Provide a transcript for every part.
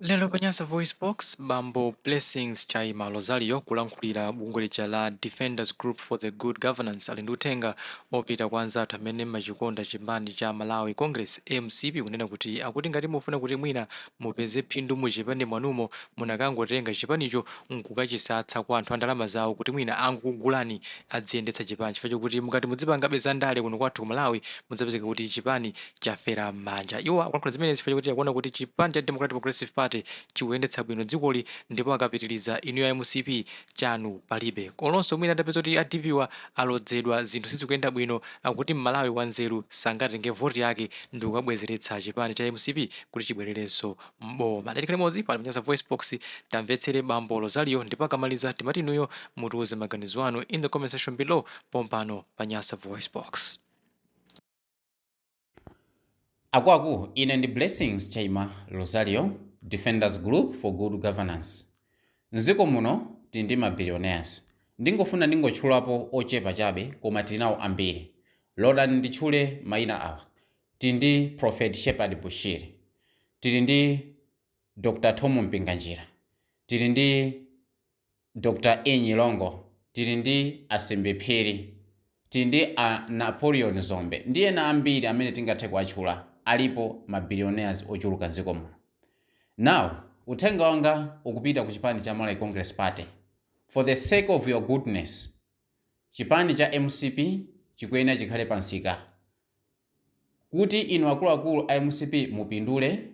Lero pa Nyasa VoiceBox, bambo Blessings Chaima Rosario kulankhulira bungwe lija la Defenders Group for the Good Governance ali ndi uthenga opita kwa anzathu amene mmachikonda chipani cha Malawi Congress, mcp, kunena kuti akuti ngati mufuna kuti mwina mupeze phindu muchipani mwanumo munakangotenga chipanicho nkukachisatsa kwa anthu andalama zawo kuti mwina angokugulani adziyendetsa chipanicho chifukwa chokuti mukati mudzipangabe za ndale kuno kwathu ku Malawi mudzapezeka kuti chipani chafera m'manja. Iwo akulankhula zimenezi chifukwa chakuti akuona kuti chipani cha Democratic Progressive Party chikuyendetsa bwino dzikoli ndipo akapitiriza inuyo a mcp chanu palibe. Olonso mwina atapezeka kuti a DPP-wa alodzedwa zinthu sizikuyenda bwino, akuti m'Malawi wanzeru sangatenge voti yake ndikukabwezeretsa chipani cha mcp kuti chibwererenso m'boma. Tiyeni tikhale limodzi pano pa Nyasa VoiceBox tamvetsere Bambo Rosario ndipo akamaliza timafuna inuyo mutiuze maganizo anu in the comment section below pompano pa Nyasa VoiceBox. Akwaku ine ndi Blessings Chaima Rosario Defenders Group for Good Governance. Mziko muno tili ndi ma billionaires. Ndingofuna ndingotchulapo ochepa chabe koma tili nawo ambiri. Lolani nditchule maina awa. Tili ndi Prophet Shepherd Bushiri. Tili ndi Dr Thom Mpinganjira. Tili ndi Dr. E. Nyirongo, tili ndi a Simbi Phiri, tili ndi a Napoleon Dzombe ndi ena ambiri amene tingathe kuwatchula, alipo ma billionaires ochuluka m'dziko muno. Now, uthenga wanga ukupita ku chipani cha Malawi Congress Party, for the sake of your goodness, chipani cha mcp chikuyenera chikhale pa msika kuti inu akuluakulu a mcp mupindule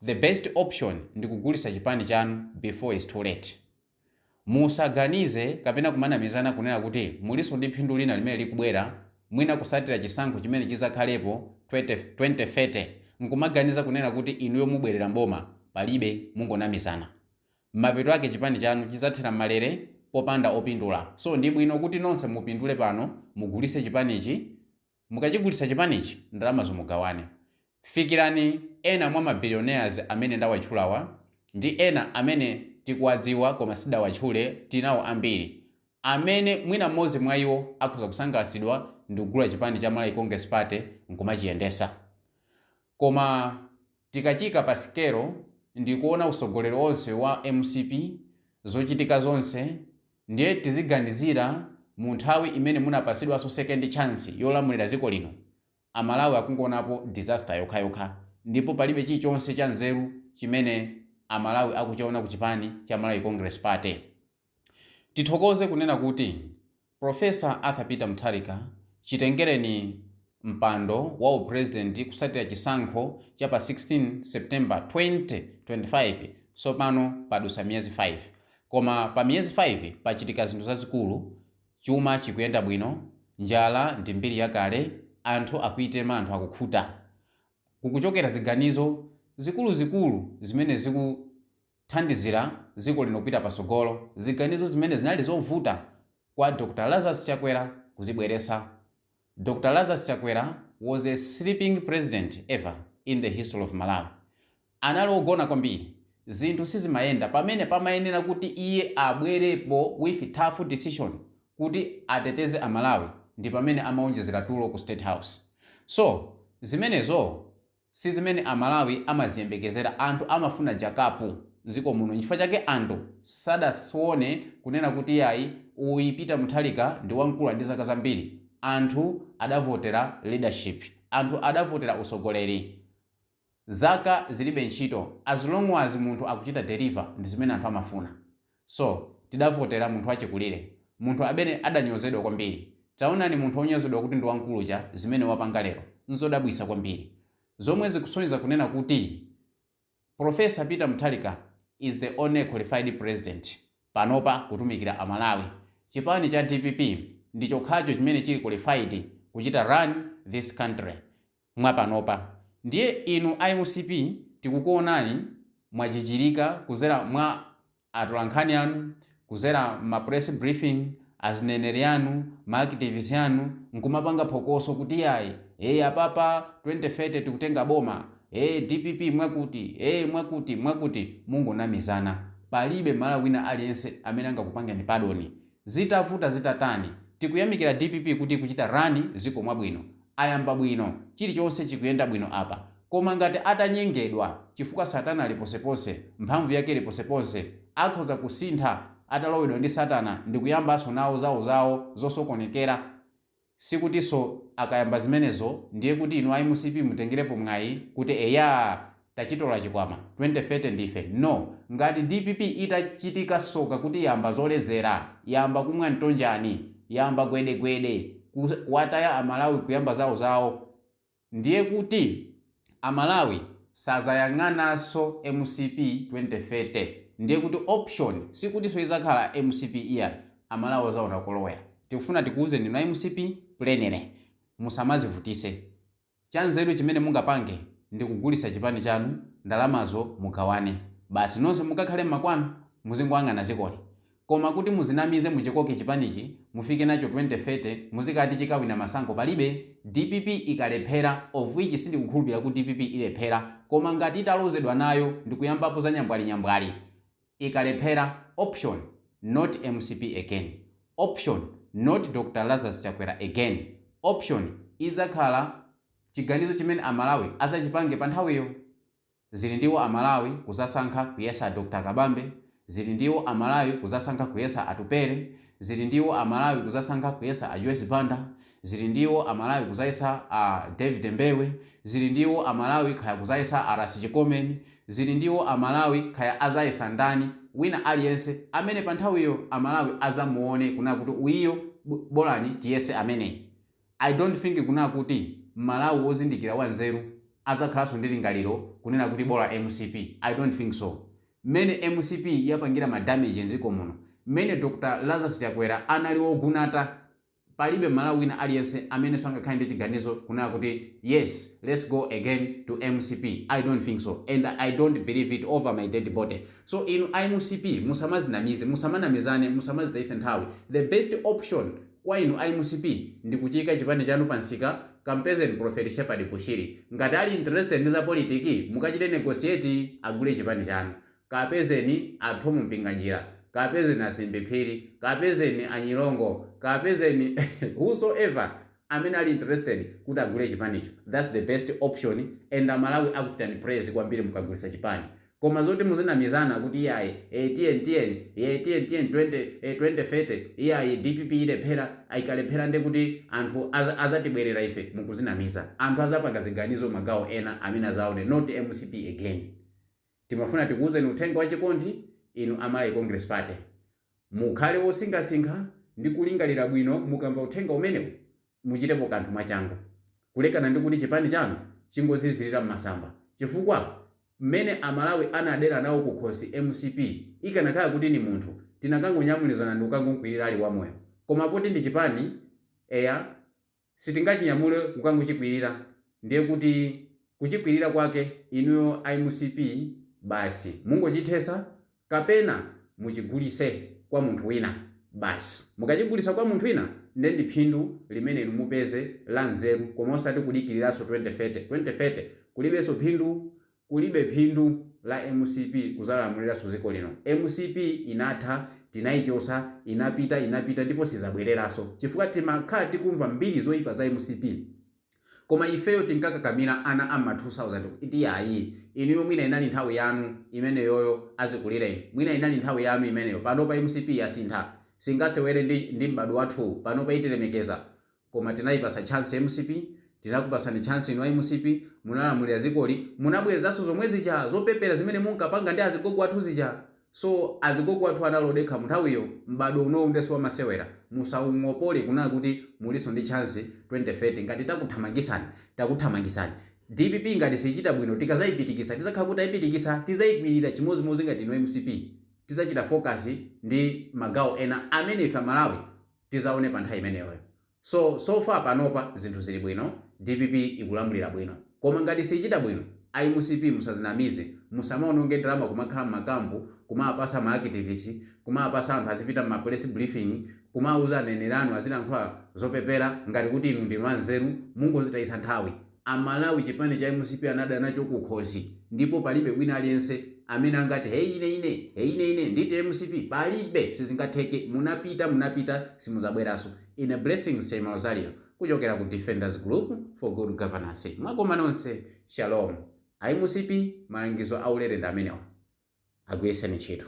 The best option ndi kugulisa chipani chanu before is too late. Musaganize kapena kumanamizana kunena kuti muliso ndi phindu lina limene likubwera mwina kusatira chisankho chimene chizakhalepo 20, 2030 nkumaganiza kunena kuti inuyo mubwerera mboma palibe mungonamizana. Mapeto ake chipani chanu chizathera mmalere popanda opindula so ndibwino kuti nonse mupindule pano mugulise chipanichi Mukachigulisa chipanichi ndalamazo mugawane. Fikirani ena mwa ma billionaires amene ndawatchulawa ndi ena amene tikuwadziwa koma sindidawatchule, tili nawo ambiri amene mwina mmodzi mwa iwo akhoza kusangalatsidwa ndikugula chipani cha Malawi Congress Party nkumachiyendesa. Koma tikachiika pa sikelo ndikuona utsogoleri onse wa mcp, zochitika zonse, Ndiye tiziganizira mu nthawi imene munapatsidwaso second chance yolamulira dziko lino, a Malawi akungowonapo disaster yokhayokha ndipo palibe chilichonse cha nzeru chimene a Malawi akuchiona ku chipani cha Malawi Congress Party. Tithokoze kunena kuti Prof. Arthur Peter Mutharika chitengereni. mpando wa u President kusatira chisankho cha pa 16 September 2025 sopano padusa miyezi 5 koma pa miyezi 5 pachitika zinthu zazikulu chuma chikuyenda bwino njala ndi mbiri yakale anthu akuitema anthu akukhuta kukuchokera ziganizo zikuluzikulu zimene zikuthandizira dziko lino kupita patsogolo ziganizo zimene zinali zovuta kwa Dr Lazarus Chakwera kuzibweresa Dr Lazarus Chakwera was a sleeping president ever in the history of Malawi. Anali ogona kwambiri. Zinthu sizimayenda pamene pamayenera kuti iye abwerepo with tough decision kuti ateteze a Malawi ndi pamene amaonjezera tulo ku state house. So zimenezo. Si zimene a Malawi amaziyembekezera. Anthu amafuna jakapu mziko muno nchifukwa chake anthu sadaone kunena kuti yayi uyu Peter Mutharika ndi wamkulu ali ndi zaka zambiri. Anthu adavotera leadership. Anthu adavotera utsogoleri. Zaka zilibe ntchito as long as munthu akuchita deliver ndi zimene anthu amafuna. So tidavotera munthu wachikulire, munthu amene adanyozedwa kwambiri. Taonani munthu wonyozedwa kuti ndi wamkulu uja zimene wapanga lero. N'zodabwitsa kwambiri. Zomwe zikusonyeza kunena kuti Prof. Peter Mutharika is the only qualified president panopa kutumikira Amalawi. Chipani cha dpp ndi chokhacho chimene chili qualified kuchita run this country. mwapanopa ndiye inu a mcp tikukuonani mwajijirika kuzera mwa atolankhani anu kuzera mma press briefing azineneri anu ma activists anu nkumapanga phokoso kuti iyayi ee apapa 2030 tikutenga boma ee dpp mwakuti ee mwakuti mwakuti mungonamizana palibe mmalawi wina aliyense amene angakupangeni padoni Zitavuta zitatani tikuyamikira dpp kuti ikuchita run ziko mwabwino. Ayamba bwino chilichonse chikuyenda bwino apa. Koma ngati atanyengedwa chifukwa satana ali ponseponse mphamvu yake ili ponseponse akhoza kusintha atalowedwa ndi satana ndi kuyambanso nawo zawozawo zosokonekera. Sikutinso akayamba zimenezo ndiye kuti inu a mcp mutengerepo mwayi kuti eyaa tachitola chikwama 2030 ndife. No! Ngati dpp itachitika soka kuti yamba zoledzera, yamba kumwa mtonjani, yamba gwedegwede, kuwataya a Malawi kuyamba zawozawo, Ndiye kuti a Malawi sazayang'ananso mcp 2030 ndiye kuti option sikutinso izakhala mcp iyayi a Malawi azaona kolowera tikufuna tikuuzeni inu a mcp plainly musamazivutise chanzeru chimene mungapange ndi kugulisa chipani chanu ndalamazo mugawane basi nonse mukakhale mmakwanu muzingoang'ana zikoli Koma kuti muzinamize muchikoke chipanichi mufike nacho 2030 muzikati chikawina masankho palibe dpp ikalephera of which sindikukhulupilira kuti dpp ilephera koma ngati italozedwa nayo ndikuyambapo za nyambwali nyambwali ikalephera option not mcp again option not Dr Lazarus Chakwera again option idzakhala chiganizo chimene amalawi adzachipange panthawiyo. Zili ndi iwo a Malawi kuzasankha kuyesa a Dr Kabambe, zili ndi iwo a Malawi kuzasankha kuyesa Atupele, zili ndi iwo a Malawi kuzasankha kuyesa a Joyce Banda, zili ndi iwo a Malawi kuzayesa a David Mbewe, zili ndi iwo a Malawi kaya kuzayesa a Rasi Chikomeni, zili ndi iwo a Malawi kaya azayesa ndani, wina aliyense amene panthawiyo a Malawi azamuone kunena kuti uyiyo bolani tiyese ameneyi. I don't think kunena kuti Mmalawi ozindikira wa nzeru adzakhalanso ndi lingaliro kunena kuti bola mcp, I don't think so. Mmene mcp yapangira ma damage nziko muno, mmene Dr Lazarus Chakwera anali ogunata palibe Mmalawi wina aliyense amenenso angakhale ndi chiganizo kunena kuti yes let's go again to mcp, I don't think so and I don't believe it over my dead body. So inu a mcp musamazinamize, musamanamizane, musamazitayitse nthawi, the best option. Kwa inu a mcp ndi kuchiika chipani chanu pa nsika kampezeni prophet shepherd bushiri ngati ali interested ndi zapolitiki mukachite negotiate agule chipani chanu kaapezeni a Thom mpinganjira kaapezeni a simbi phiri kaapezeni a nyirongo kaapezeni whosoever amene ali interested kuti agule chipanicho thats the best option and amalawi akuchitani praise kwambiri mukagulisa chipani Koma zoti muzinamizana kuti iyayi ee tiyeni tiyeni ee tiyeni tiyeni 20 ee 2030 iyayi dpp ilephera ikalephera nde kuti anthu azatibwerera ife mukuzinamiza anthu azapanga ziganizo magawo ena amene azaone not mcp again timafuna tikuuzeni uthenga wachikondi inu a Malawi Congress Party Mukhale wosinkhasinkha ndi kulingalira bwino mukamva uthenga umenewu. Muchitepo kanthu mwachangu kulekana ndi kuti chipani chanu chingozizirira m'masamba chifukwa mmene Amalawi anadera nawo kukhosi mcp ikanakhala kuti ni munthu tinakangonyamulizana ndi kukangomkwirira ali wamoyo koma poti ndi chipani eya sitingachinyamule kukangochikwirira ndiye kuti kuchikwirira kwake inuyo a mcp basi mungochithesa kapena muchigulise kwa munthu wina basi mukachigulisa kwa munthu wina nde ndi phindu limene inu mupeze la nzeru koma osati kudikirilaso 2030 2030 kulibeso phindu Kulibe phindu la mcp kuzalamulilaso ziko lino mcp inatha tinayichosa inapita inapita ndipo sizabwelelaso chifukwa timakhala tikumva mbiri zoipa za mcp koma ifeyo tinkakakamila ana amma 2000 kuti ayi inuyo mwina inali nthawi yanu imeneyoyo azikulileni mwina inali nthawi yanu imeneyo panopa mcp yasintha singasewele ndi ndi m'badwo wathuwu panopa itilemekeza Koma tinayipasa chance mcp, tinakupasani chance inu a mcp, munalamulira zikoli, munabwerezanso zomwezija zopepela zimene munkapanga ndi azigogo athu zija, so azigogo athu anali odekha munthawiyo, m'badwo unowu nde siwamasewera, musaungopole kunena kuti mulinso ndi chance 2030, ngati takuthamangisani, takuthamangisani, dpp ngati siyichita bwino tikazayipitikisa tizakhala kuti tayipitikisa, tizayikwilira chimozimozi ngati inu mcp, tizachita focus ndi magawo ena amene ife amalawi tizaone pa nthawi imeneyoyo so so far panopa zinthu zili bwino dpp ikulamulira bwino koma ngati siyichita bwino a mcp musazinamize musamaononge ndalama kumakhala mmakampu kumawapasa ma activist kumawapasa anthu azipita mma press briefing kumawuza aneneri anu azilankhula zopepera ngati kuti inu ndinu anzeru mungozitayisa nthawi A Malawi chipani cha mcp anada nacho kukhosi ndipo palibe wina aliyense Amene angati hey ine ine hey ine ine nditi mcp palibe sizingatheke munapita munapita simuzabweraso ine Blessings Chaima Rosario kuchokera ku Defenders Group for good governance mwakoma nonse shalom a mcp malangizo aulere ndi amenewa. agwiritseni ntchito.